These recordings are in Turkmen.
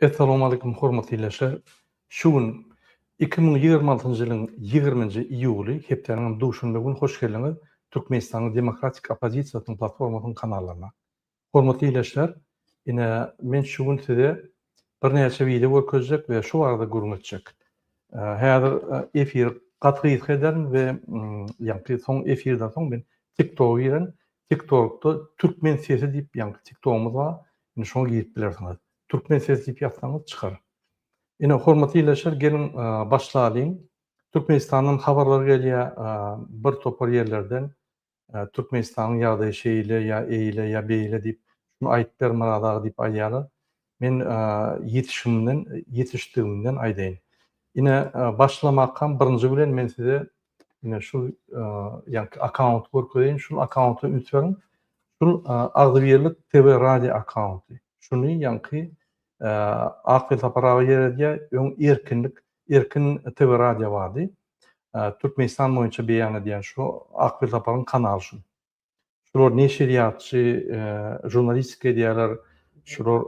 Essalamualeýkum hormatly leşger! Şu gün iki müň ýigrimi altynjy ýylyň ýigriminji iýuly, hepdäniňem duşenbe güni hoş geldiňiz Türkmenistanyň demokratik oppozisiýasynyň platformasynyň kanallaryna. Hormatly leşger, ine, men şu gün size birnäçe wideo görkezjek we şu barada gürrüň etjek. Häzir efiri gaty gysga ederin we ýaňky soň efirden soň men TikToga giren, TikTorkda Türkmen sesi diýip ýaňky TikTogumyz bar, Indi şoňa girip bilersiňiz. Türkmen ses diýip ýazsaňyz çykar. Ine, hormatly ildeşler, geliň başlalyň. Türkmenistandan habarlar gelýär, bir topar ýerlerden Türkmenistanyň ýagdaýy şeýle ýa eýle ýa beýle diýip, şuny aýt ber Myrat aga diýip aýdýarlar. Men ýetişimden, ýetişdigimden aýdaýyn. Ine, başlamakam birinji bilen men size Ine şu ýanky akkaunty görkezeýin. Şul akkaunta üns beriň. Şul Agzybirlik TV radio akkaunty. Şuny ýanky Akgül Sapar aga ýeredýär. Öň Erkinlik, Erkin TV radio bardy. Türkmenistan boýunça beýan edýän şu Akgül Saparyň kanaly şu. Şular neşirýatçy, žurnalistika edýärler, şular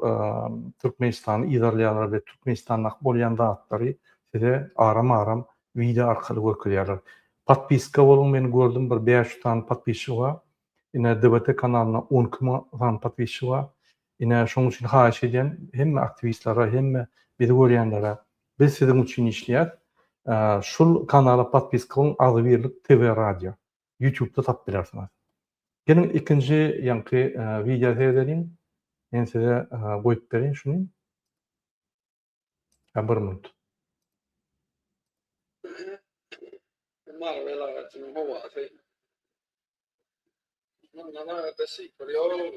Türkmenistany yzarlaýarlar we Türkmenistandaky bolýan zatlary size aram-aram wideo arkaly görkezýärler. Podpiska boluň, men gördüm bir bäş ýüz sany podpisçigi bar. Ine DBT kanalyna on iki müň sany podpisçigi bar. Ine şonuň üçin haýyş edýän hemme aktiwistlere, hemme bizi görýänlere, biz siziň üçin işleýäs. Şul kanala podpiska boluň, agzybirlik TV radio. Ýutubda tapyp bilersiňiz. Geliň ikinji ýaňky wideo seredeliň. Men size goýup bereýin şuny. Ýa bir minut. Mary welaýatynyň howasy. Mundan aýratda şifr ýok.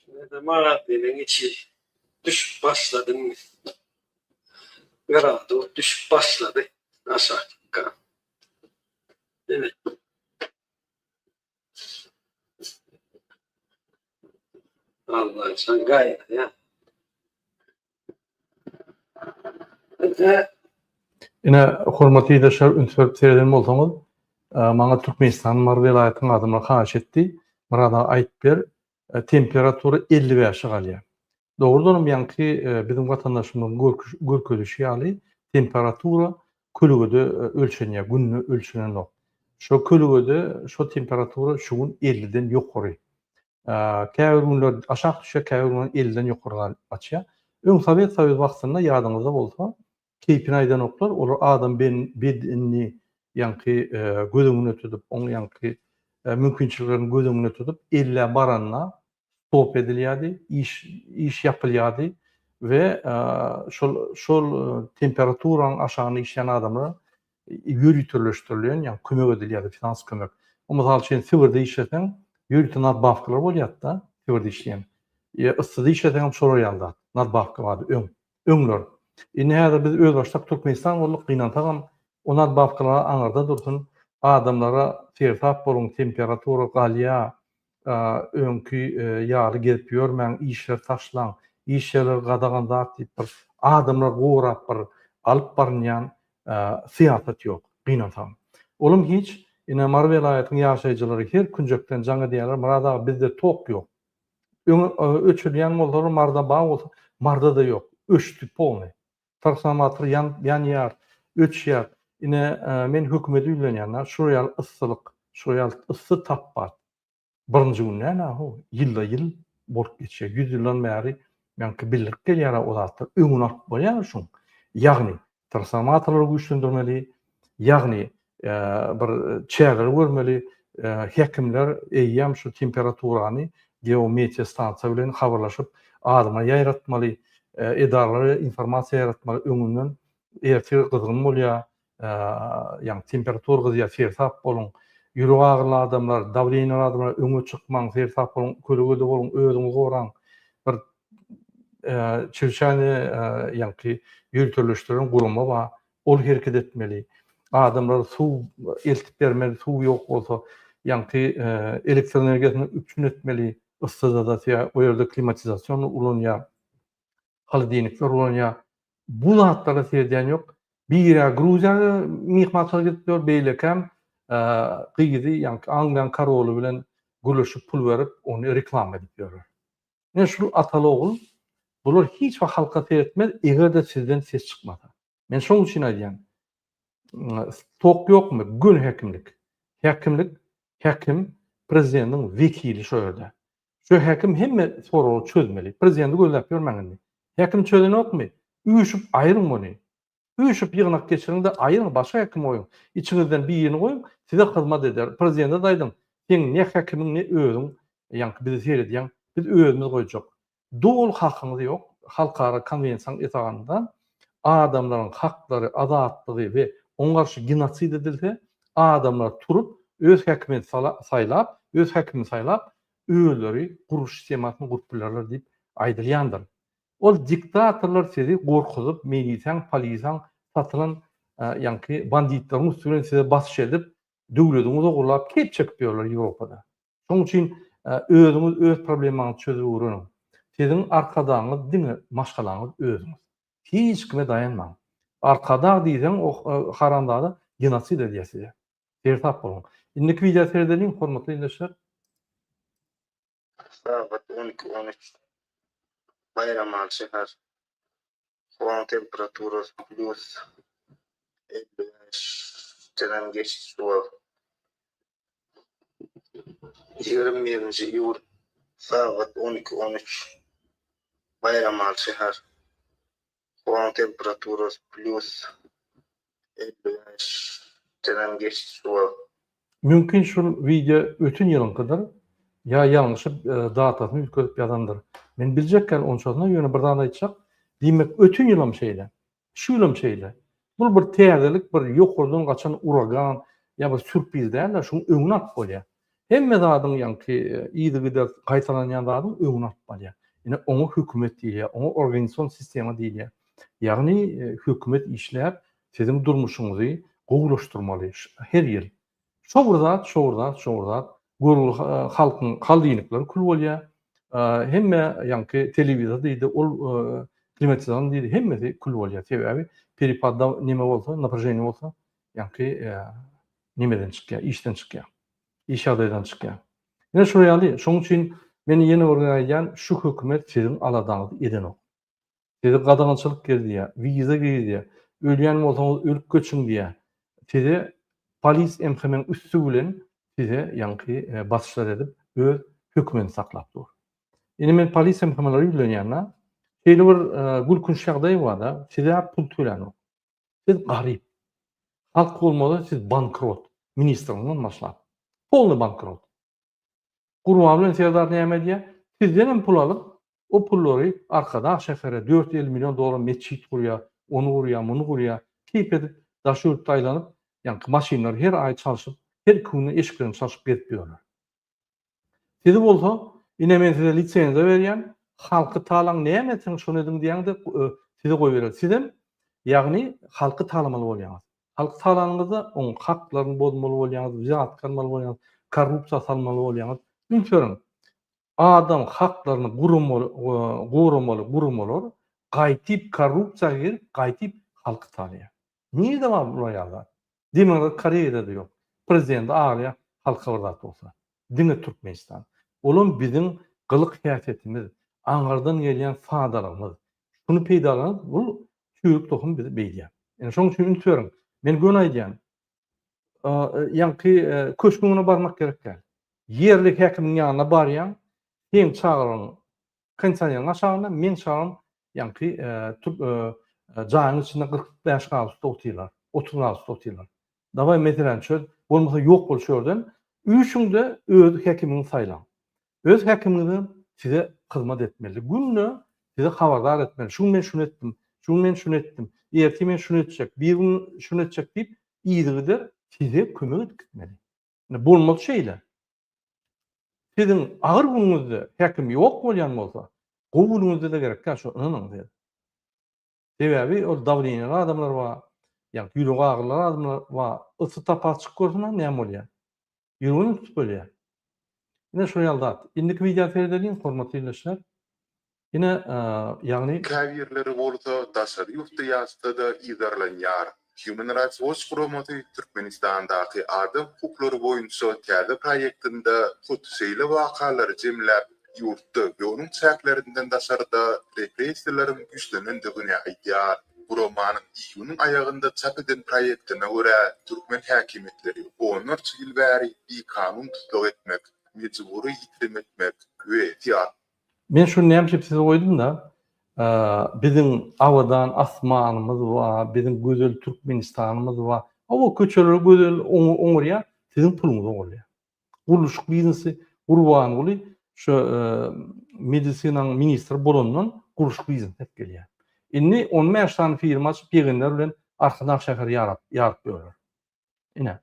Şeýle magaziniň içi düşüp başladymy? Ýöräp dur, düşüp başlady aşakka. Evet. Allah sen gayet ya. Ine, hormatly ildeşler, üns berip sereden bolsaňyz, maňa Türkmenistanyň Mary welaýatynyň adamlary haýyş etdi, Myrat aga aýyp ber, temperatura elli bäşe galýar. Dogrudanam ýaňky biziň watandaşymyzyň görkezişi ýaly temperatura kölegede ölçenýär, günde ölçenenok. Şo kölegede şo temperatura şu gün elliden ýokary. Käbir günler aşak düşýär, käbir günler elliden ýokary galyp gaçýar. Öň Sowet Soýuzy wagtynda ýadyňyzda bolsa, keýpini aýdanoklar, olar adam bedenini ýaňky göz öňünde tutup, oň ýaňky mümkinçiliklerini göz öňünde tutup, ellä baranda stop edilýärdi, iş ýapylýardy we şol temperaturaň aşagyna işleýän adamlar ýöriteleşdirilýän, ýagny kömek edilýärdi, finansiýa kömek. Ol mysal üçin Sibirde işleseň, ýörite nadbawkalar bolýardy-da, Sibirde işleýän. Ýa yssyda işleseň hem şolar ýaly zat, nadbawka bardy öň, öňler. Indi häzir biz özbaşdak Türkmenistan bolduk, gynansagam, o nadbawkalar aňyrda dursun, adamlara seresap boluň, temperatura galýar, öňki ýaly gezip ýörmäň işleri taşlaň iş ýerleri gadagan zat diýip bir adamlary gorap bir alyp barynýan syýasat ýok gynansam olam hiç ine mary welaýatyň ýaşaýjylary her künjekden jaň edýärler myrat aga bizde tok ýok öňe öçürilýän bolsalar maryda bar bolsa maryda da ýok öçdi polny. Transformator ýanýar, öçýär. Ine, men hökümede ýüzlenýän, nä şu ýaly yssylyk, şu ýaly yssy tapbat birinji gün näme ho, ýylda-ýyl bolup geçýär. Ýüz ýyldan bäri meňki bildirip gelýär-ä o zatlar. Öňüni alyp bolýarmy şuň? Ýagny, transformatorlary güýçlendirmeli, ýagny bir çäreleri görmeli. Hekimler eýýäm şu temperaturany geometria stansiýa bilen habarlaşyp, adama ýaýratmaly, edaralara informasiýa ýaýratmaly öňünden, ertir gyzgyn bolýar, ýagny temperatura gyzýar, seresap boluň, ýürek agyryly adamlar, dawleniýaly adamlar öňe çykmaň, seresap boluň, kölegede boluň, özüňizi goraň, bir çirçäni ýagny ýöriteleşdiren gurama bar, Ol hereket etmeli. Adamlar suw eltip bermeli, suw ýok bolsa, ýaňky elektroenergiýasyny üpjün etmeli, yssyzadasýa, o ýerde klimatizasion ulanýa, holodilnikler ulanýa. Bu zatlara seredýän ýok. Biri Gruziýa myhmançylyk edip ýör, beýlekäm gyzy ýaňky Angliýanyň koroly bilen gürleşip pul berip, ony reklama edip ýörler. Ine şul ataly ogul bular hiç wagt halka seretmez egerde sizden ses çykmasa. Men şoň üçin aýdýan stok ýokmy göni häkimlik. Häkimlik häkim prezidentiň wekili şo ýerde. Şo häkim hemme soragy çözmeli. Prezidenti gözläp ýörmäň indi. Häkim çözenokmy? Üýşüp aýryň ony. Üýşüp ýygnak geçiriň-de aýyryň başga hekim goýuň. Içiňizden birini goýuň, size hyzmat eder. Prezidente-de aýdyň, seň ne hekimiň ne özüň ýaňky bizi seredýäň, biz özümiz goýjak. Doly hakyňyz ýok, halkara konwensiýanyň esasynda adamlaryň haklary, azatlygy we oňa garşy genosid edilse, adamlar turup öz hekimini saýlap, öz hekimini saýlap, özleri guruş sistemasyny gurup bilerler diýip aýdylýandyr. Ol diktatorlar sizi gorkuzyp milisaň polisaň satylan ýaňky banditlaryň üsti bilen size basyş edip döwlediňiz ogurlap keyp çekip ýörler ýewropada. Şoň üçin özüňiz öz problemaňyzy çözüp öwreniň. Siziň arkadagyňyz diňe maşgalaňyz özüňiz. Hiç kime daýanmaň. Arkadag diýseň o haramzada genosid edýär size. Seresap boluň. Indiki wideo seredeliň hormatly ildeşler. Sagat on iki, on üç. Baýramaly şäher. Howaň temperaturasy plyus elli beşdenem geçdi şu wagt. Ýigrimi birinji iýul sagat on iki, on üç. Baýramaly şäher. Howaň temperaturasy plýus elli bäş denem geçdi şu wagt. Mümkin şul wideo öten ýylyňkydyr ýa ýalňyşyp datasyny üýtgedip ýazandyr. Men biljek kän onçasyna ýöne bir zat aýtjak, diýmek öten ýylam şeýle, şu ýylam şeýle, Bul bir täzelik bir ýokardan gaçan uragan ýa bir sürpriz dälde şuň öňüni alyp bolýar. Hemme zadyň ýaňky yzygidersiz gaýtalanýan zadyň öňüni alyp bolýar. Ine oňa hökümet diýilýär, oňa organison sistema diýilýär. Ýagny hökümet işläp siziň durmuşyňyzy gowulaşdyrmaly her ýyl. Şowurzat, şowurzat, şowurzat. Görgüli halkyň haldiýnikleri kül bolýa. Hemme ýaňky telewizor diýdi, ol klimatizan diýdi, hemmesi kül bolýa. Sebäbi peripadda neme bolsa, naprejeniýe bolsa, ýaňky nemeden çykýa, işden çykýa. Iş ýagdaýdan çykýa. Ine şular ýaly. Şonuň üçin men ýene bir gezek aýdýan, şu hökümet siziň aladaňyzy edenok. Sizi gadagançylyk gezdýär, wiza gezdýär. Ölýän bolsaňyz ölüp göçüň diýýär. Size polis MHM-iň üsti bilen size ýaňky basyşlar edip öz hökümini saklap dur. Indi men polis MHM-lere ýüzlenýän-de, şeýle bir gülkünç ýagdaý bar-da, siz-ä pul tölänok. Siz garyp. Halk bolmasa siz bankrot, ministriňizden başlap. Polny bankrot. Gurban bilen Serdar näme edýär? Sizden hem pul alyp, O pullary Arkadag şähere dört elli million dollara metjit gurýar, ony gurýar, muny gurýar, keýp edip daş ýurtda aýlanyp, ýaňky maşynlary her aý çalşyp, her iki günde eşiklerini çalşyp gezip ýörler. Sizi bolsa, ine men size lisenziýa berýän, halky talaň näme etseň şony ediň diýäňde size goýberýär. Sizem, ýagny halky talamaly bolýaňyz. Halky talanyňyzda oň haklaryny bozmaly bolýaňyz, wzatka almaly bolýaňyz, korrupsiýa salmaly bolýaňyz. Üns beriň. Adam haklaryny goramaly guramalar gaýtyp korrupsiýa girip gaýtyp halky talýar. Nirede bar bular ýaly zat? Demirgazyk Koreýadada ýok. Prezident aglaýar halka bir zat bolsa. Diňe Türkmenistan. Olam biziň gylyk häsiýetimiz, aňyrdan gelýän sadalygymyz. Şuny peýdalanyp bul çüýrük tohum bizi beýdýär. Ine şoň üçin üns beriň. Men göni aýdýan. ýaňky köşgüňe barmak gerek däl. Ýerli häkimiň ýanyna barýaň, seň çagryň kondisioneriň aşagynda, meň çagrym ýaňky jaýyň içinde kyrk bäş gradusda otyrlar, otuz gradusda otyrlar. Dawaý meseläni çöz, bolmasa ýok bol şu ýerden, üýşüň-de öz häkimiňi saýlaň. Öz häkimiňizem size hyzmat etmeli. Günde sizi habardar etmeli. Şu gün men şuny etdim, şu gün men şuny etdim, ertir men şuny etjek, birigün şuny etjek diýip, yzygider size kömek edip gitmeli. Indi bolmaz şeýle. Siziň agyr günüňizde häkim ýok bolýan bolsa, gowy günüňizde-de gerek däl, şuny ynanyň siz. Sebäbi ol dawleniýan adamlar bar, ýagny ýüregi agyrylan adamlar bar. Ysy tapar çykyp görseň-ä näme bolýar? Ýüreginem tutup ölýär. Ine şo ýaly zat. Indiki wideony seredeliň, hormatly ildeşler. Ine, ýagny. Käbirleri bolsa daşary ýurtda ýaşsa-da yzarlanýar. Human Rights Watch guramasy Türkmenistandaky adam hukuklary boýunça täze proýektinde hut şeýle wakalary jemläp, ýurtda we onuň çäklerinden daşarda repressiýalaryň güýçlenendigini aýdýar. Guramanyň iýunyň aýagynda çap eden proýektine görä, türkmen häkimiýetleri onlarça ýyl bäri bikanun tussag etmek, mejbury ýitirim etmek we Men şuny näme üçin size goýdum-da, biziň abadan asmanymyz bar, biziň gözel Türkmenistanymyz bar. Hawa, köçeler gözel, oňarýar, siziň puluňyz oňarýar. Gurluşyk biznesi Gurbanguly şu medisinanyň ministri bolandan gurluşyk biznesi edip gelýär. Indi on bäş sany firma açyp, ýegenler bilen Arkadag şäheri ýaryp ýörler. Ine.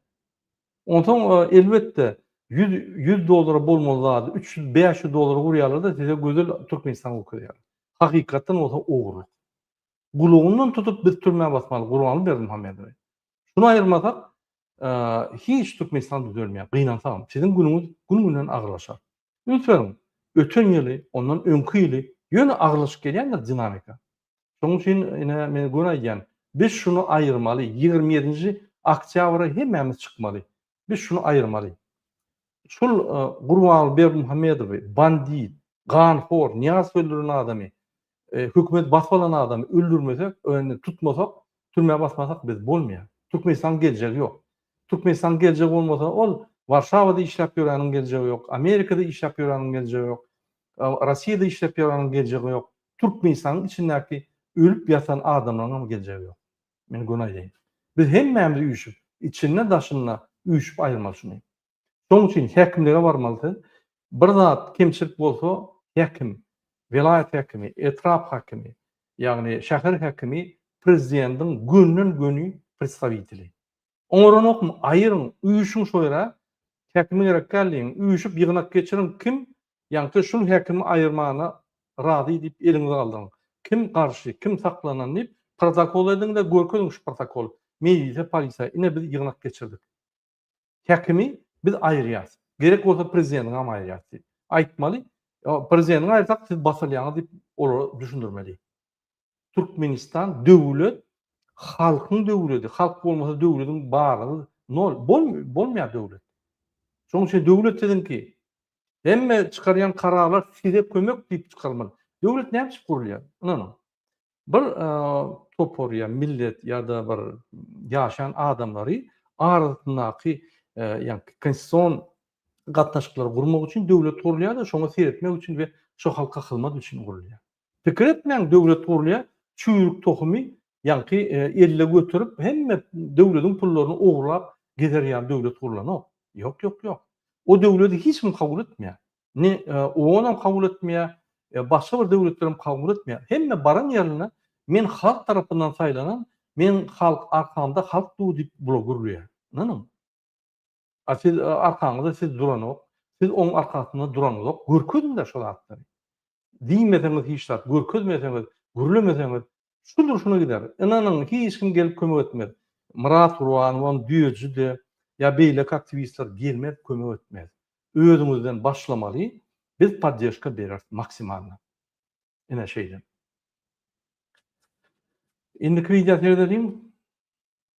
Onsoň elbetde 100 100 dollara bolmaly zady 300 500 dollara gurýarlar-da size gözel Türkmenistan görkezýärler. Hakykatdan bolsa ogurlyk. Gulagyndan tutup biz türmä basmaly Gurbanguly Berdimuhamedowy. Şuny aýyrmasak hiç Türkmenistan düzelmeýär. Gynansagam siziň günüňiz gün-günden agyrlaşar. Üns beriň, öten ýyly, ondan öňki ýyly ýöne agyrlaşyp gelýändir dinamika. Şonuň üçin ine men göni aýdýan, biz şuny aýyrmaly, ýigrimi ýedinji oktýabra hemmämiz çykmaly. Biz şuny aýyrmaly. Şul Gurbanguly Berdimuhamedowy, bandit, ganhor, Nyýazow öldüren adamy, hökümet basyp alan adamy öldürmesek, indi tutmasak, türmä basmasak biz bolmaýar. Türkmenistanyň geljegi ýok. Türkmenistanyň geljegi bolmasa ol Warşawada işläp ýöreniň geljegi ýok, Amerikada işläp ýöreniň geljegi ýok, Rossiýada işläp ýöreniň geljegi ýok. Türkmenistanyň içindäki ölüp ýatan adamlaryňam geljegi ýok. Men göni aýdaýyn. Biz hemmämiz üýşüp, içinde daşynda üýşüp aýyrmaly şuny. Şoň üçin häkimlige barmaly siz. Bir zat kemçilik bolsa häkim, welaýat häkimi, etrap häkimi, ýagny şäher häkimi prezidendiň gönden göni predstawiteli. Oňaranokmy, aýyryň, üýşüň şo ýere, häkime gerek däl diýiň, üýşüp ýygnak geçiriň, kim ýaňsa şul häkimi aýyrmana razy diýip eliňizi galdyryň, kim garşy, kim saklanan diýip protokol ediň-de görkeziň şu protokoly mejlise, polisiýa, ine biz ýygnak geçirdik, häkimi biz aýyrýas, gerek bolsa prezideniňem aýyrýas diýip aýtmaly, prezideniňi aýyrsak siz basylýaňyz diýip olara düşündirmeli. Türkmenistan döwlet halkyň döwledi halk bolmasa döwlediň barlygy nol bolmaýar döwlet şonuň üçin döwlet siziňki hemme çykarýan kararlar size kömek diýip çykarmaly döwlet näme üçin gurulýar ynanyň bir topar ýa millet ýa-da bir ýaşan adamlary arasyndaky ýa konstitusion gatnaşyklary gurmak üçin döwlet gurulýar-da şoňa seretmek üçin we şo halka hyzmat üçin gurulýar Pikir etmäň döwlet gurulýar çüýrük tohumy ýaňky elle göterip hemme döwlediň pullaryny ogurlap gezer ýaly döwlet gurulanok ýok ýok ýok o döwledi hiç kim kabul etmeýär ne oonam kabul etmeýär başga bir döwletlerem kabul etmeýär hemme baran ýerinde men halk tarapyndan saýlanan men halk arkamda halk dur diýip bula gürleýär ynanyň. A siz arkaňyza siz duranok, siz oň arkasynda duraňzok, görkeziňdä şo zatlary. Diýmeseňiz hiç zat, görkezmeseňiz, gürlemeseňiz şu durşuna gider. Ynanyň, hiç kim gelip kömek etmez. Myrat Gurbanowam, Düýeji-de ýa beýleki aktiwistler gelmez, kömek etmez. Özüňizden başlamaly, biz poddežka bereris maksimalny. Ine şeýle. Indiki wideo serediň.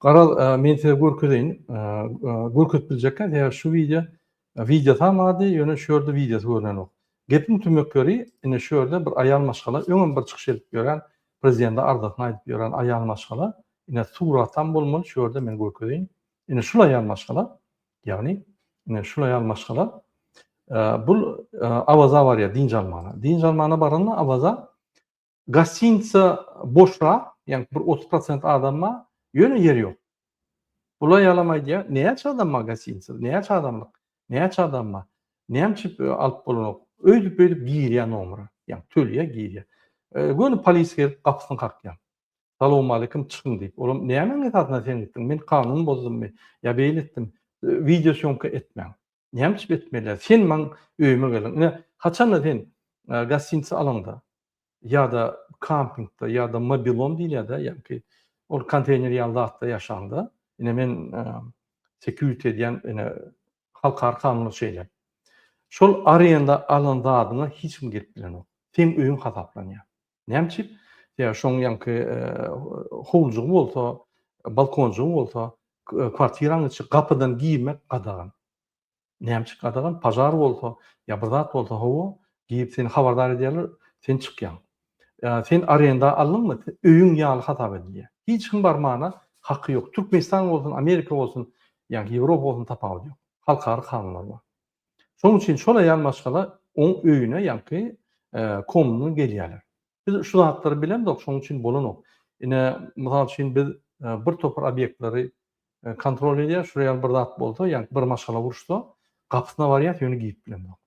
Garaz, men size görkezeýin. Görkezip biljekkä, sebäbi şu wideo wideo tamady, ýöne şu ýerde wideosy görnenok. Gepiň tümek ýeri, ine şu ýerde bir aýal maşgala, öňem bir çykyş edip ýören, prezidende arzasyny aýdyp ýören aýal maşgala, ine suratam bolmaly, şu ýerde men görkezeýin. Ine şul aýal maşgala, Ýagny, ine şulaý ýaly maşgala bu Awaza barýar dynç almana. Dynç almana baranda Awaza gostinitsa boşra, ýagny bir 30% adam bar, ýöne ýer ýok. Bula ýalam aýdýar, näçe adam bar gostinitsa, näçe adamlyk, näçe adam bar, näme üçin alyp bolanok, öýdüp-öýdüp girýär nomera, ýagny tölýär, girýär. Göni polis gelip gapysyny kakýar. Salowmalikim, çykyň diýip. Olam, Nämäň esasynda sen gitdiň? Men kanun bozdummy? Ýa beýle etdim? Wideo sýomka etmäň. Näme üçin etmeliä? Sen maň öýüme geldiň. Ine, haçanda sen gostinitsa alaňda ýa-da kampingde ýa-da mobilom diýilýär-dä, ýagny ol konteýner ýaly zatda ýaşaňda, ine men security edýän, ine halkara kanunlar şeýle. Şol arenda alan zadyňa hiç kim girip bilenok. Seň öýüň hasaplanýar. Näme üçin? Sebäbi şoň ýaňky howlujygy bolsa, balkonjygy bolsa, kwartiraň içi gapydan girmek gadagan. Näme üçin gadagan? Pažar bolsa, ýa bir zat bolsa, hawa, girip seni habardar edýärler, sen çykýaň. Sen arenda aldyňmy? Öýüň ýaly hasap edilýär. Hiç kim barmana haky ýok. Türkmenistan bolsun, Amerika bolsun, ýa Ýewropa bolsun tapawudy ýok. Halkara kanunlar bar. Şonuň üçin şola ýan maşgala oň öýüne ýaňky komuna gelýärler. Biz şu zatlary bilemzok, şonuň üçin bolanok. Ine, mysal üçin biz bir topar obýektleri kontrol edýär, şular ýaly bir zat bolsa, ýaňky bir maşgala uruşsa, gapysyna barýas, ýöne girip bilemzok.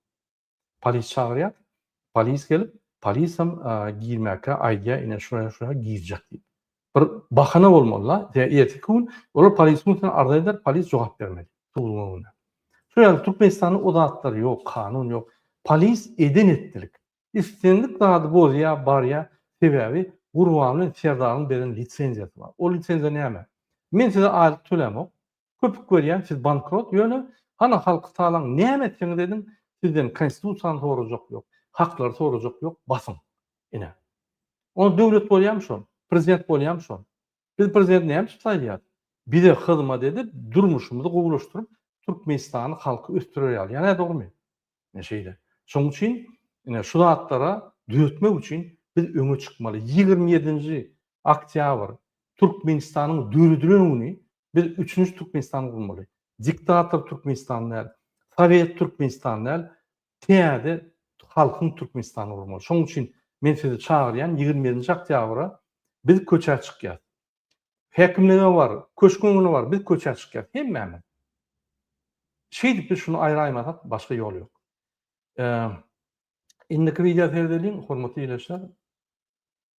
Polis çagyrýas, polis gelip, polisem girmäkä aýdýar, ine şuraya-şuraya girjek diýip. Bir bahana bolmaly-la, ýa erteki gün olar polisiň üstüne arza eder, polis jogap bermeli, suduň öňünde. Şu ýerde Türkmenistanda o zatlar ýok, kanun ýok. Polis eden etdilik. Islendik zady bozýa, barýa, sebäbi Gurban bilen Serdaryň beren lisenziýasy bar. Ol lisenziýa näme? Men size aýlyk tölämok, köpük berýän siz bankrot ýöne hany halky talaň näme etseňiz ediň sizden konstitusiýany sorajak ýok haklary sorajak ýok basyň ine onda döwlet bolýamy şol prezident bolýamy şol biz prezident näme üçin saýlaýas bize hyzmat edip durmuşymyzy gowulaşdyryp türkmenistany halky ösdürer ýaly ýa nädogrymy ine şeýle şoň üçin ine şu zatlara düzetmek üçin biz öňe çykmaly ýigrimi ýedinji oktýabr türkmenistanyň döredilen güni Biz üçünji Türkmenistan gurmaly. Diktator Türkmenistan däl, Sowet Türkmenistan däl, täze halkyň Türkmenistany gurmaly. Şonuň üçin men sizi çagyrýan, ýigrimi ýedinji oktýabra biz köçä çykýas. Häkimlige bar, köşk öňüne bar, biz köçä çykýas, hemmämiz. Şeýdip biz şuny aýraýmasak, başga ýol ýok. Indiki wideo serdeliň, hormatly ildeşler.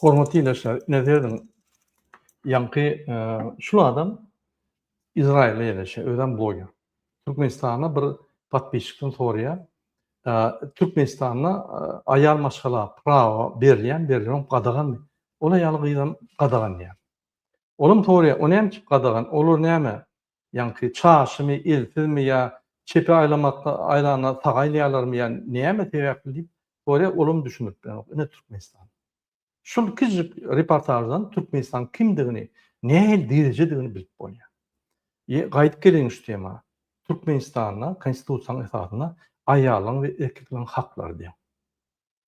Hormatly ildeşler, ine serediň, ýaňky şul adam Izrailde ýerleşýär, özem bloger. Türkmenistana bir podpisçikden soraýar, Türkmenistanda aýal maşgala prawa berilýärmi, berilmegem gadaganmy? Ol aýal gyzam gadagan diýýär. Olam soraýar, o näme üçin gadagan, olar näme, Ýaňky çarşymy, eltizmi ýa çepe aýlamakda aýlanda saga aýlaýarlarmy ýa näme sebäpli diýip sorýar, olam düşündirip bilenok. Ine Türkmenistan. Şul kiçijik reportaždan Türkmenistanyň kimdigini, nähili derejedigini bilip bolýar. Ýe, gaýdyp geleýin şu tema. Türkmenistanda Konstitusiýanyň esasynda aýallaryň we erkekleriň haklary deň.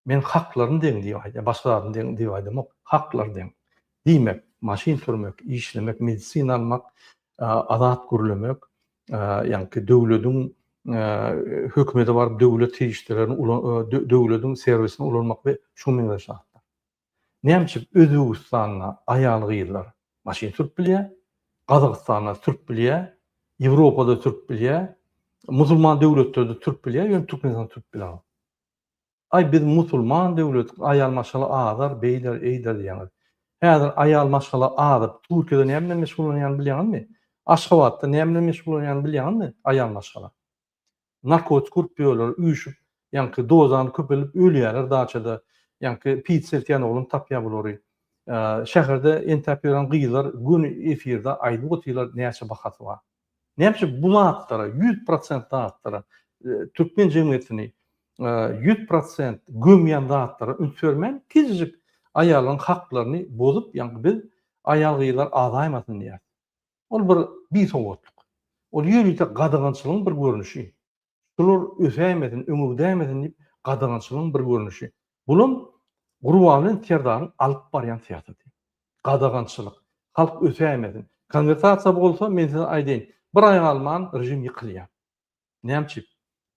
Men haklaryny deň diýip aýdýan, başga zadyny deň diýip aýdamok. Haklary deň. Diýmek, maşyn sürmek, işlemek, medisina almak, azat gürlemek, ýaňky döwlediň hökümete baryp döwlet serişdelerini ulan, döwlediň serwisini ulanmak we şuňa meňzeş zatlar. Näme üçin Özbegistanda aýal-gyzlar maşyn sürüp bilýär, Gazagystanda sürüp bilýär, Ýewropada sürüp bilýär, musulman döwletlerde sürüp bilýär, ýöne Türkmenistanda sürüp bilenok? Aý biz musulman döwleti aýal maşgala azar beýler eýler diýýäňiz. Häzir aýal maşgala azyp Türkiýede näme bilen meşgullanýany bilýäňizmi? Aşgabatda näme bilen meşgullanýany bilýäňizmi aýal maşgala? Narkotik urup ýörler üýşüp ýaňky dozany köpelip ölýäler daçada ýaňky pit seltýän oglan tapýar bulary. Şäherde entäp ýören gyzlar göni efirde aýdyp otyrlar näçe bahasy bar. Näme üçin bu zatlara, ýüz prosent zatlara, türkmen jemgyýetini ýüz prosent gömýän zatlara üns bermän, kiçijik aýallaryň haklaryny bozup, ýaňky biz aýal-gyzlar azaýmasyn diýýäris. Ol bir bisowatlyk. Ol ýörite gadagançylygyň bir görnüşi. Şular ösäýmesin, öňegidäýmesin diýip, gadagançylygyň bir görnüşi. Bulam Gurbangelen serdaryň alyp barýan syýasaty. Gadagançylyk. Halk ösäýmesin. Konwertasiýa bolsa, men size aýdaýyn, bir aý galman režim ýykylýar. Näme üçin?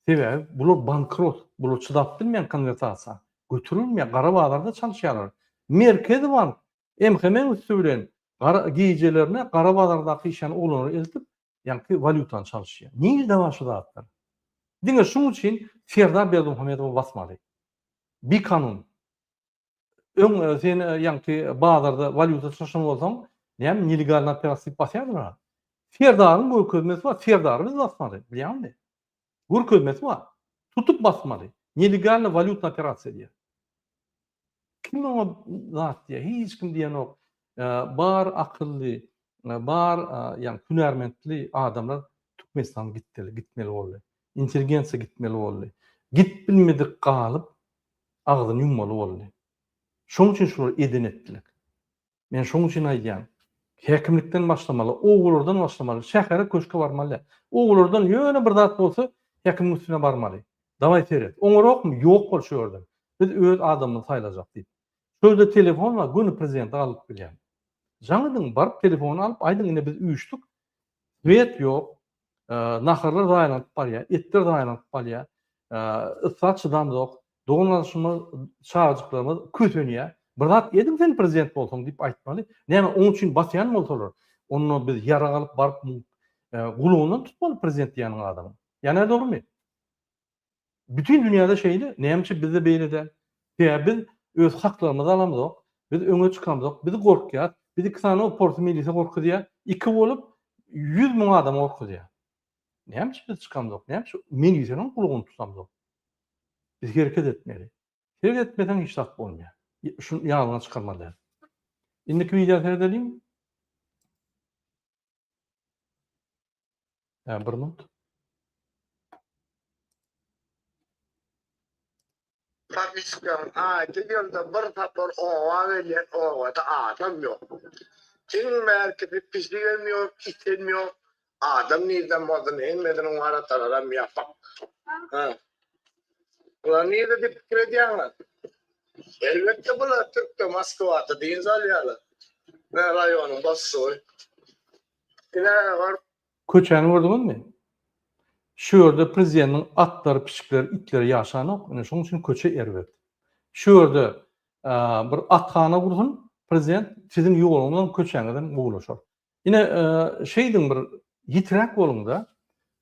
Sebäbi bular bankrot. Bular çydap bilmeýän konwertasiýa. Göterilmeýär. Gara bazarda çalyşýarlar. Merkezi bank MHM-iň üsti bilen gara gijelerine gara bazardaky işan oglanlar eltip, ýaňky walýutany çalyşýar. Nirede bar şu zatlar? Diňe şuň üçin Serdar Berdimuhamedowy basmaly. Bikanun. Öň sen ýaňky bazarda walýuta çalşan bolsaň, näme nelegalny operasiýa diýip basýardylar. Serdaryň görkezmesi bar, Serdary biz basmaly. Bilýäňmi? Görkezmesi bar. Tutup basmaly. Nelegalny walýutny operasiýa diýýär. Kim oňa zat diýýär? Hiç kim diýenok. Bar akylly, bar ýagny hünärmentli adamlar Türkmenistan gitdeli, gitmeli boldy. Intelligensiýa gitmeli boldy. Gidip bilmedik galyp agzyny ýummaly boldy. Şonuň üçin şular eden-etdilik. Men şoň üçin aýdýan. Häkimlikden başlamaly, obalardan başlamaly, şähere köşke barmaly. Obalardan ýöne bir zat bolsa häkimiň üstüne barmaly. Dawaý seret. Oňarokmy? Ýok bol şu ýerden. Biz öz adamymyzy saýlajak diýip. Şu ýerde telefon bar, göni prezidenti galyp bilýän. Jaň ediň, baryp telefony alyp aýdyň ine biz üýşdük, Swiet ýok, naharlar zaýalanyp barýar, etler zaýalanyp barýar, yssa çydamzok, dogan-gardaşlarymyz, çagajyklarymyz kösenýär. Bir zat ediň sen prezident bolsaň diýip aýtmaly. Näme oň üçin basýan bolsalar, onda biz ýarag alyp baryp gulagyndan tutmaly prezident diýýän adamyň. Ýa nädogrymy? Bütin dünýäde şeýle, nämeçe bizde beýle däl? Sebäbi biz öz haklarymyzy alamzok, biz öňe çykamzok, biz gorkýas, biz iki sany porsy milise gorkuzýar, iki bolup ýüz müň adama gorkuzýar. Nämeçe biz çykamzok, nämeçe miliseniň gulagny tutamzok? Biz hereket etmeli. Hereket etmeseň hiç zat bolmaýar. Şuny ýadyňa çykarmaly däl. Indiki wideo seredeliň. Ä bir minut. Pakistan'ın aydı yılda bir sapar oğa gelen ovada adam yok. Kim merkezi pişigem yok, item yok. Adam nirden bolsun, hemmesinin var atalaram yapak. Ha. Ulan nirde dip krediyanlar? Elbetde bular Türkde Moskwada dynç alýarlar. Mä raýonyň başlygy. Ine bar. Köçäni gördüňizmi? Şu ýerde prezidentiň atlary, pişikleri, itleri ýaşanok. Ine şoň üçin köçe erbet. Şu ýerde bir athana gursun prezident, siziň ýoluňyz bilen köçäňizem gowulaşar. Ine, şeýdiň bir ýitiräk boluň-da,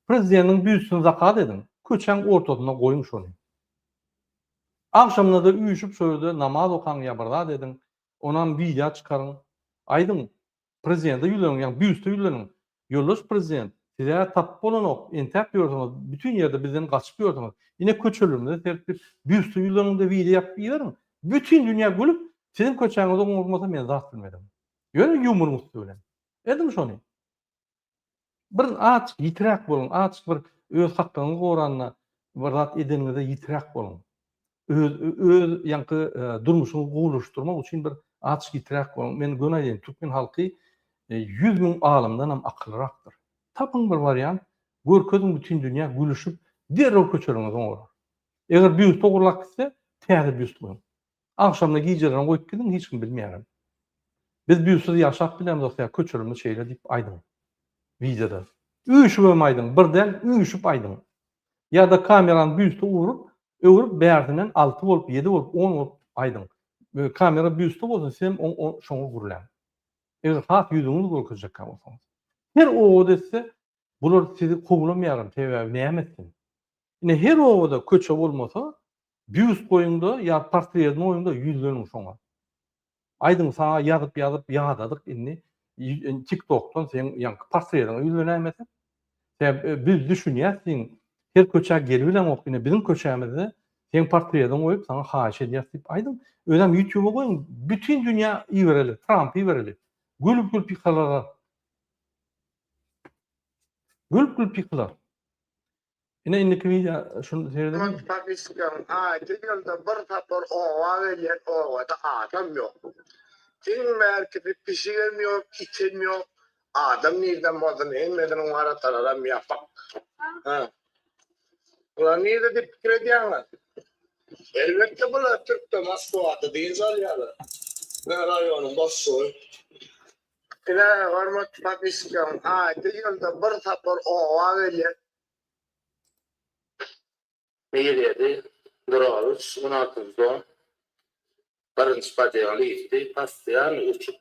prezideniň büstüni zakaz ediň, köçäň ortasynda goýuň şony. Agşamyna-da üýşüp şo ýerde namaz okaň ýa bir zat ediň, onam wideo çykaryň. Aýdyň, prezidente ýüzleniň, ýagny büste ýüzleniň, Ýoldaş prezident, siz-ä tapyp bolanok, entäp ýörsüňiz, bütin ýerde bizden gaçyp ýörsüňiz, ine köçelerimize serip bir büste ýüzleniň-de wideo ýapyp iberiň, bütin dünýä gülüp, siziň köçäňizi oňurmasa men zat bilmedin. Ýöne ýumuryň üsti bilen. Ediň şony. Bir aç, ýitiräk boluň. Aç bir öz haklygyňyzy goranda bir zat edeniňizde ýitiräk boluň. Öz öz ýaňky durmuşyňyzy gowulaşdyrmak üçin bir aç, ýitiräk boluň. Men göni aýdaýyn, türkmen halky ýüz müň alymdan hem akyllyrakdyr. Tapyň bir wariant, görkeziň bütin dünýä gülüşip, derrew köçeleriňizi oňarar. Eger býust ogurlap gitse, täze býust goýuň. Agşamda gijelerini goýup gidiň hiç kim bilmeýärem. Biz büysiz ýaşap bilermiz otsa köçürimi şeýle diýip aýdyň wideoda. Üýşübem aýdyň bir däl üýşüp aýdyň. Ýada kamerany büste urup öwrüp bärsinen alty bolup ýedi bolup on bolup aýdyň. Kamera büste bolsa sizem şoňa gürläň. Eger has ýüzüňizi görkezjekkä bolsaňyz. Her owaz etse Bular sizi kowlamaýaram sebäbi näme etsin. Ine her obada köçe bolmasa býust goýuňda ýa portredini goýuňda ýüzleniň şoňa. Aýdyň saňa ýazyp ýazyp ýadadyk indi tik tokdan seň ýaňky portrediňe ýüzlenäýmesek. Sebäbi biz düşünýäs siň her köçä gelibileňok ine biziň köçämizde seň portrediňi goýup saňa haýyş edýäs diýip aýdyň. Özem ýutuba goýuň bütin dünýä ibereli trampy ibereli gülüp gülüp ýykalalar. Gülüp gülüp ýykylar. Ine indiki wideo şuny seredip. Şol statistikanyň aýdy ýylda bir sapar oba gelýän obada adam ýok. Iň bärkisi pişigem ýok, item ýok. Adam nirden bolsun hemmesiniň waratalaram ýapyk. Hä. Bular nirde diýip pikir edýäňiz? Elbetde bular türkde Moskwada dynç alýarlar. Biziň raýonyň boşlugy. Diňe hormatly podpisçiklerim, aýda ýylda bir sapar oba gelýän. Birýedi Durowiç on altyny don birinji podýaly iýdi, postoýannyý uçup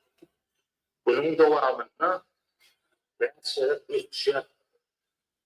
günüň dowamynda bäş gezek uçýar.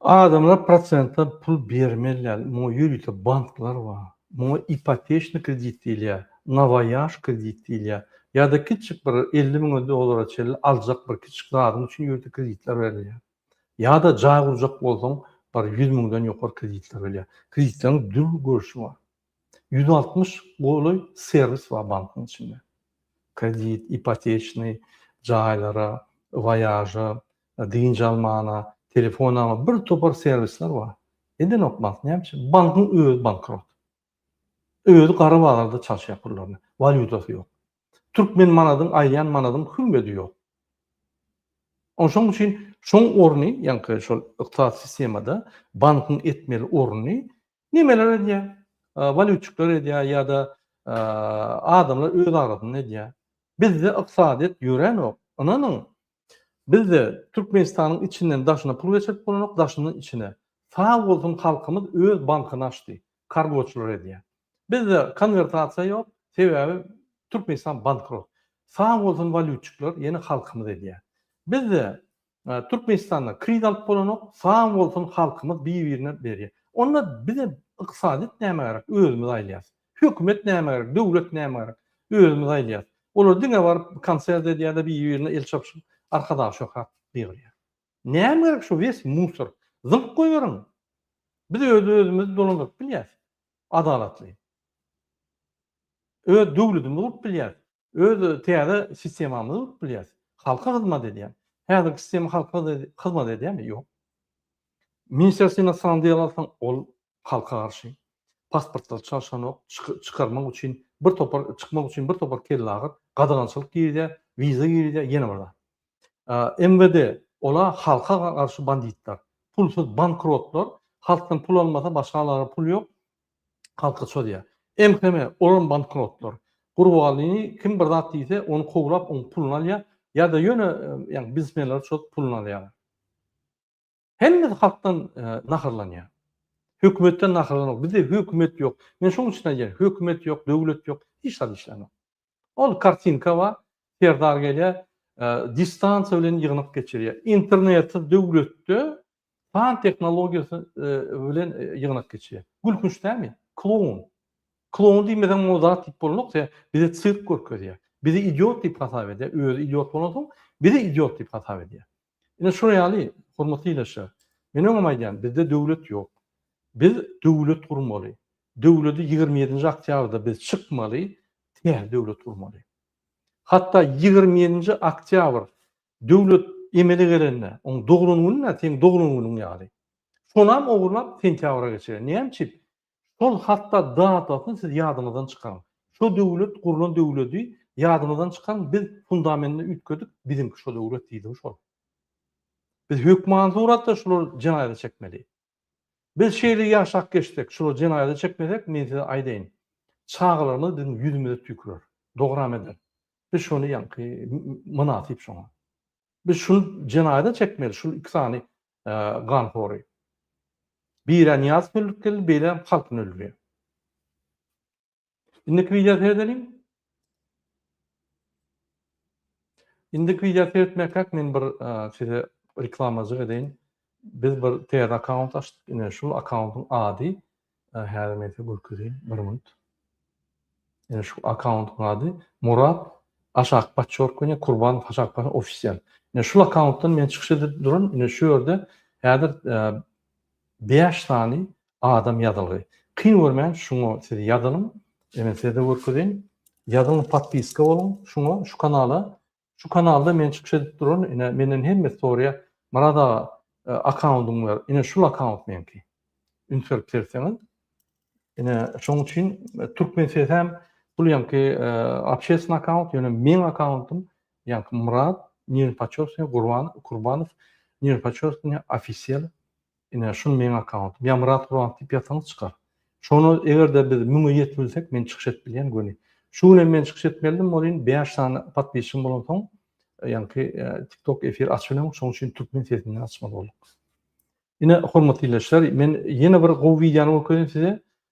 Adamlar prosentden pul bermeliler. Muňa ýörite banklar bar. Muňa ipoteçny kredit diýilýär, na waýaž kredit diýilýär. Ýa-da kiçijik bir elli müňe dollara çenli aljak bir kiçijik zadyň üçin ýörite kreditler berilýär. Ýa-da jaý gurjak bolsaň bir ýüz müňden ýokary kreditler berilýär. Kreditleriň dürli görnüşi bar. Ýüz altmyş golaý serwis bar bankyň içinde. Kredit, ipoteçni, jaýlara, waýaža, dynç almana, telefon alma, bir topar serwisler bar. Edenok bank, näme üçin? Bankyň özi bankrot. Özi gara bazarda çalşýar pullaryny. Walýutasy ýok. Türkmen manadyň, aziýan manadyň hümmedi ýok. Ony şoň üçin şoň orny, ýaňky şol ykdysady sistemada bankyň etmeli orny Nemeler edýä? Walýutçikler edýä ýa-da adamlar öz arasynda edýä. Bizde ykdysadyýet ýöränok. Ynanyň, bizde Türkmenistanyň içinden daşyna pul geçirip bolanok, daşyndan içine. Sag bolsun halkymyz öz bankyny açdy. Kargoçylar edýä. Bizde konwertasiýa ýok, sebäbi Türkmenistan bankrot. Sag bolsun walýutçikler, ýene halkymyz edýä. Bizde Türkmenistanda kriz alyp bolanok sag bolsun halkymyz bir birine berýär onda bize ykdysadyýet näme gerek özümiz aýylýas hökümet näme gerek döwlet näme gerek özümiz aýylýas olar diňe baryp konsert edýärler bir birine el çapyşyp arkadag şöhrat gygyrýar näme gerek şu wes musor zyňyp goýberiň biz öz özümizi dolandyryp bilýäs adalatly öz döwledimizi gurup bilýäs Öz täze sistemamyzy gurup bilýäris. Halka hyzmat edýän. Häzirki sistema halka hyzmat edýärmi? Ýok. Ministrýa inosan diýel alsaň, ol halka garşy. Pasportlary çalşanok, çykarmak üçin bir topar, çykmak üçin bir topar kellagyr, gadagançylyk girizýär, wiza girizýär, ýene bir zat. MWD, ola halka garşy banditler. Pulsuz bankrotlar, halkdan pul almasa başga alara pul ýok, Halka çozýar. MHM, olam bankrotlar. Gurbalyny kim bir zat diýse, ony kowlap, oň puluny alýar, ýa-da ýöne, ýagny biznesmenleri çozup puluny alýarlar. Hemmesi halkdan naharlanýar. Hökümetden naharlanok. Bizde hökümet ýok. Men şonuň üçin aýdýan, hökümet ýok, döwlet ýok, hiç zat işlänok. Ol kartinka bar, Serdar gelýär, distansiýa bilen ýygnak geçirýär. Internetsiz döwletde san tehnologiýasy bilen ýygnak geçirýär. Gülkünç dälmi? Kloun. Kloun diýmeseň o zat diýip bolanok, se bize sirk görkezýär. Bizi idiot diýip hasap edýär, özi idiot bolansoň, bizi idiot diýip hasap edýär. Ine şolar ýaly, hormatly ildeşler. Men öňem aýdýan, bizde döwlet ýok. Biz döwlet gurmaly. Döwleti ýigrimi ýedinji oktýabrda biz çykmaly, täze döwlet gurmaly. Hatda ýigrimi ýedinji oktýabr döwlet emele gelende, oň doglan gününe seň doglan günüň ýaly. Şonam ogurlap sentýabra geçirer. Näme üçin? Şol hatda datasyny siz ýadyňyzdan çykaryň. Şo döwlet gurlan döwledi ýadyňyzdan çykaryň biz fundamenini üýtgedik biziňki şo döwlet diýdiňi şol. Biz hökman suratda şular jenaýza çekmeli. Biz şeýle ýaşap geçsek şular jenaýza çekmesek men size aýdaýyn çagalarymyz biziň ýüzümize tüýkürer. Dogryam eder. Biz şony ýaňky mynasyp şoňa. Biz şuny jenaýza çekmeli şul iki sany ganhory. Bireniýaz hülkeli beýle halkyny öldürýär. Indiki wideo seredeliň. Indiki wideo seretmäkäk men bir size reklamajyk edeýin. Biz bir täze akkaunt açdyk. Ine şul akkauntyň ady Häzir men size görkezeyim bir minut. Ene şu akkauntyň ady Murat Aşak Paçork we Kurban Aşak Paçork ofisial. Ene şu akkauntdan men çykyş edip duran. Ene şu ýerde häzir 5 sany adam ýazylgy. Kyn görmän şuňa siz ýazylyň. Ene size görkezeýin. Ýazylyň podpiska boluň şuňa şu kanala. Şu kanalda men çykyş edip duraryn ine menden hemme sorýa Myrat aga akkaundyňy ber ine şul akkaunt meňki üns berip sertseňiz ine şoň üçin türkmen sesem bul ýaňky obşesna akkaunt ýöne meň akkauntym ýaňky Myrat nirpaçosny gurban kurbanow nirpaçosny ofisiýal Ine şul meň akkauntym. Ýa Myrat Guran diýip ýazsaňyz çykar. Şony egerde biz müňe ýetbilsek men çykyş edip bilýän göni. Şu gün hem men çykyş etmelidim welin bäş sany podpisçigim bolansoň ýaňky tiktok efir açyp bilemok şoň üçin türkmen sesinden açmaly bolduk. Ine hormatly illeçler men ýene bir gowy wideony görkezýän size.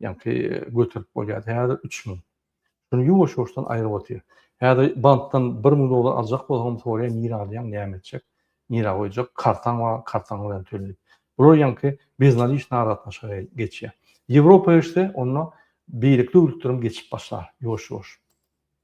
Ýaňky göterip bolýardy. Häzir üç müň. Şuny ýuwaş-ýuwaşdan aýryp otyr. Häzir bankdan bir müň dollar aljak bolsaňam soraýar, nirä alýaň, näme etjek, nirä goýjak, kartaň bar, kartaň bilen töl diýip. Bular ýaňky beznadişna aragatnaşyga geçýär. Ýewropa geçse, onda beýleki döwletlerem geçip başlar ýuwaş-ýuwaş.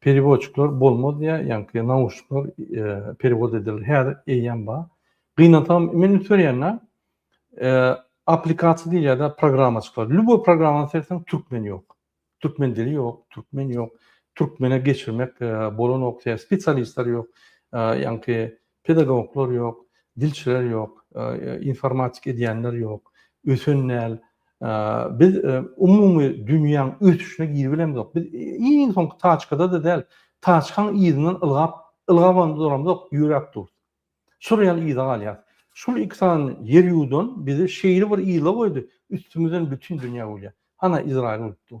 Periwodçikler bolmaz diýä ýaňky nauşnikler periwod edilir häzir eýýäm bar. Gynansam men üns berýänä aplikasiýa diýilýärde programma çykar. Lýuboý programmany serseň türkmen ýok. Türkmen dili ýok, türkmen ýok. Türkmene geçirmek bolanok, spesialistler ýok. Ýaňky Pedagoglar ýok, dilçiler ýok, informatik edýänler ýok, ösen däl. Biz umumy dünýäň ösüşine girip bilemzok. Biz iň soňky taçkada-da däl, taçkaň yzyndan ylgap, ylgabam-da duramzok, ýöräp durus. Şol ýaly yza galýarys. Şul iki sany ýer ýuwdan bizi şeýle bir yzla goýdy, üstümizden bütin dünýä gülýär. Hana Izraýyl gülüp dur.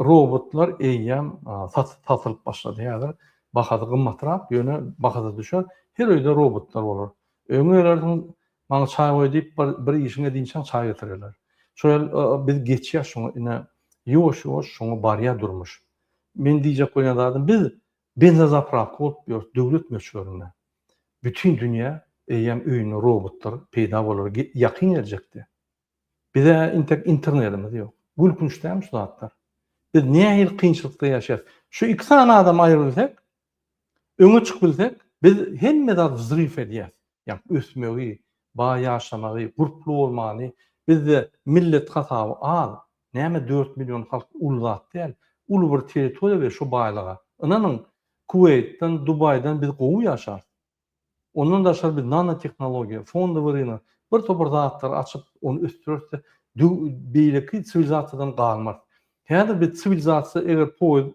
Robotlar eýýäm satylyp başlady. Häzir bahasy gymmatrak, ýöne bahasy düşer. Her öýde robotlar bolar. Öýüňe gelersiň, Maňa çaý goý diýip, bir işiň edinçäň çaý getirerler. Şo ýaly biz geçýäs şoňa, ine, ýuwaş-ýuwaş şoňa barýar durmuş. Meniň diýjek bolýan zadym, biz benzozapravka bolup ýörüs döwlet möçberinde. Bütin dünýä eýýäm öýünde robotlar peýda bolar ýakyn geljekde. Bize intek internedimiz yok. Gülkünç dälmi şu zatlar? Biz nähili kynçylykda ýaşaýas? Şu iki sany adam aýrybilsek, öňe çykyp bilsek, biz hemme zat wzrif edýäs. Ýa ösmegi, baý ýaşamagy, gurply bolmany, bizde millet hasaby az. Näme dört million halk uly zat däl. Uly bir territoriýa we şu baýlyga. Ynanyň, Kuweýtden, Dubaýdan biz gowy ýaşarys. Ondan daşary biz nanotehnologiýa, fondowy rynak, bir topar zatlary açyp, ony ösdüreris-de, dü beýleki siwilizasiýadan galmarys. Häzir biz siwilizasiýa eger poýuz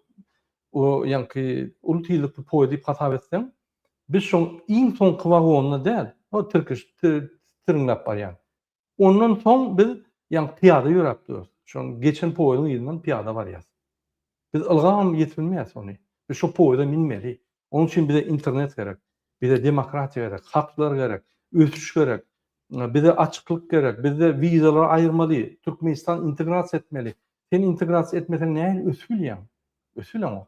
o ýaňky uly tizlikli poýuz diýip hasap etseň, biz şoň iň soňky wagonyna däl, o tirkiş, ti tiriňläp barýan. Ondan soň biz ýaňy pyýada ýöräp durarys. Şoň geçen poýeziň yzyndan pyýada barýas. Biz ylgam ýetip bilmeýäs ony. Biz şo poýeza minmeli. Onuň üçin bize internet gerek. Bize demokratiýa gerek, haklar gerek, ösüş gerek. Bize açyklyk gerek. Bizde wizalary aýyrmaly. Türkmenistan integrasiýa etmeli. Sen integrasiýa etmeseň nähili ösüp bilýäň? Ösüp bileňok.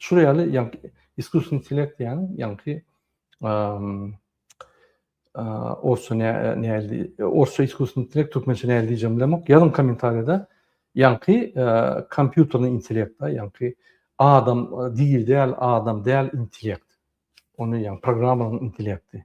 Şul ýaly ýaňky iskusny intellekt diýýän ýaňky orsça näli orsça iskusny intellekt türkmençe näli diýjegimi bilemok. Ýazyň kommentariýada ýaňky kompýuterni intellekt da ýaňky adam dil däl adam däl intellekt. Ony ýaňky programmanyň intellekti.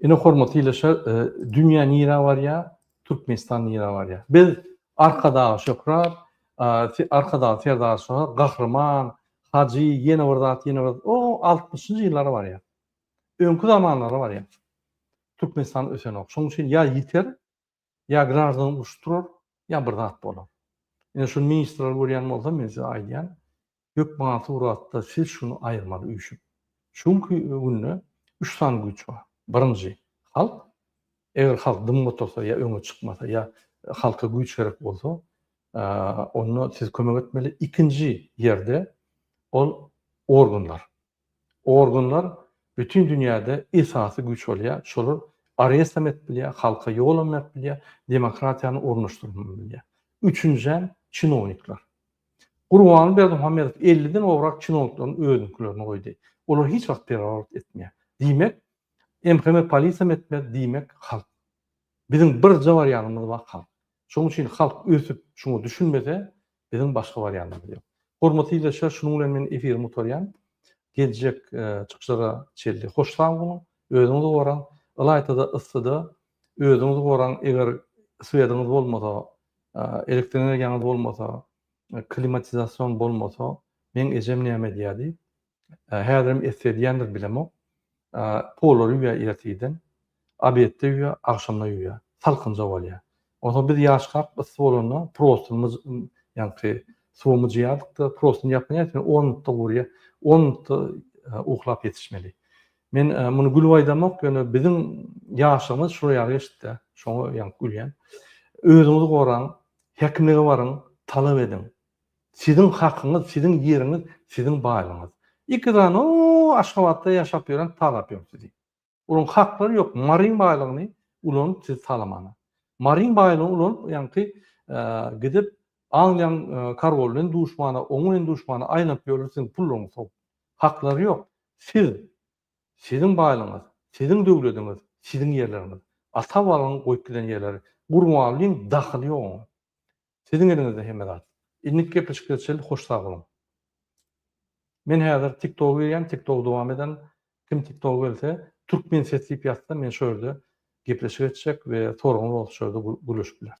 Ine hormatly ildeşler, e, dünýä nirä barýar, Türkmenistan nirä barýar. Biz Arkadaga Şöhrat, Arkadaga Serdar Şöhrat, Gahryman, Hajy, ýene bir zat, ýene bir o 60-njy ýyllara barýar. Öňki zamanlara barýar. Türkmenistan ösenok. Şonuň üçin ýa ýiter, Ýa graždan uruş turar, ýa bir zat bolar. Ine şuny ministrler görýän bolsa men size aýdýan, hökman suratda siz şuny aýyrmaly üýşüp. Şu günki günde üç sany güýç bar. Birinji, halk. Eger halk dymyp otursa ýa öňe çykmasa ýa halka güýç gerek bolsa, onda siz kömek etmeli. Ikinji ýerde ol organlar. Organlar bütin dünýäde esasy güýç bolýar, şolar arrestam edip bilýär, halka ýolam berip bilýär, demokratiýany ornaşdyrybam bilýär. Üçünjäm çinownikler. Gurbanguly Berdimuhamedow elli den gowrak çinownikleriň özünikilerini goýdy. Olar hiç wagt perewort etmeýär. Diýmek, MHM polisiýam etmez, diýmek halk. Biziň birje barýanymyz bar halk. Şonuň üçin halk ösüp, şuňa düşünmese, Biziň başga barýanymyz ýok. Hormatly ildeşler, şunuň bilen men efirimi gutarýan. Geljek çykyşlara çenli hoş sag boluň, özüňizi goraň, ylaýta-da yssyda özüňizi goraň, eger swediňiz bolmasa, elektroenergiýaňyz bolmasa, klimatizasion bolmasa, meň ejem näme edýärdi? Häzirem esse edýändir bilemok. Polary ýuýýar ertiden, obedde ýuýýar, agşamda ýuýýar. Salkynja bolýar. Onsoň biz ýaşkak yssy bolanda prostyny ýaňky suwa myjýardyk-da, prostyny ýapyň ätini on minutda guryýar. On minutda uklap ýetişmeli. Men muny gülüp aýdamok, ýöne biziň ýaşlygymyz şular ýaly geçdi-de. Şoňa ýaňky gülýän. Özüňizi goraň, hekimlige baryň, talap ediň. Siziň hakyňyz siziň ýeriňiz siziň baýlygyňyz iki sany o aşgabatda ýaşap ýören talapýom sizi olaň haklary ýok maryň baýlygyny ulanyp siz talamana maryň baýlygyny ulanyp ýaňky gidip angliýaň karwoly bilen duşmana oň bilen duşmana aýlanyp ýörler siziň pullaryňyz sowup haklary ýok siz siziň baýlygyňyz siziň döwlediňiz siziň ýerleriňiz ata babaň goýup giden ýerleri gurbanlyň dahyly ýok oňa Siziň eliňizde hemme zat. Innik gepleşikler çil hoş sag boluň. Men häzir tik toga girýän tik togy dowam eden kim tik togy bilse türkmen ses diýip ýazsa men şo ýerde gepleşik etjek we soragyňyz bolsa şo ýerde gürleşip bileris.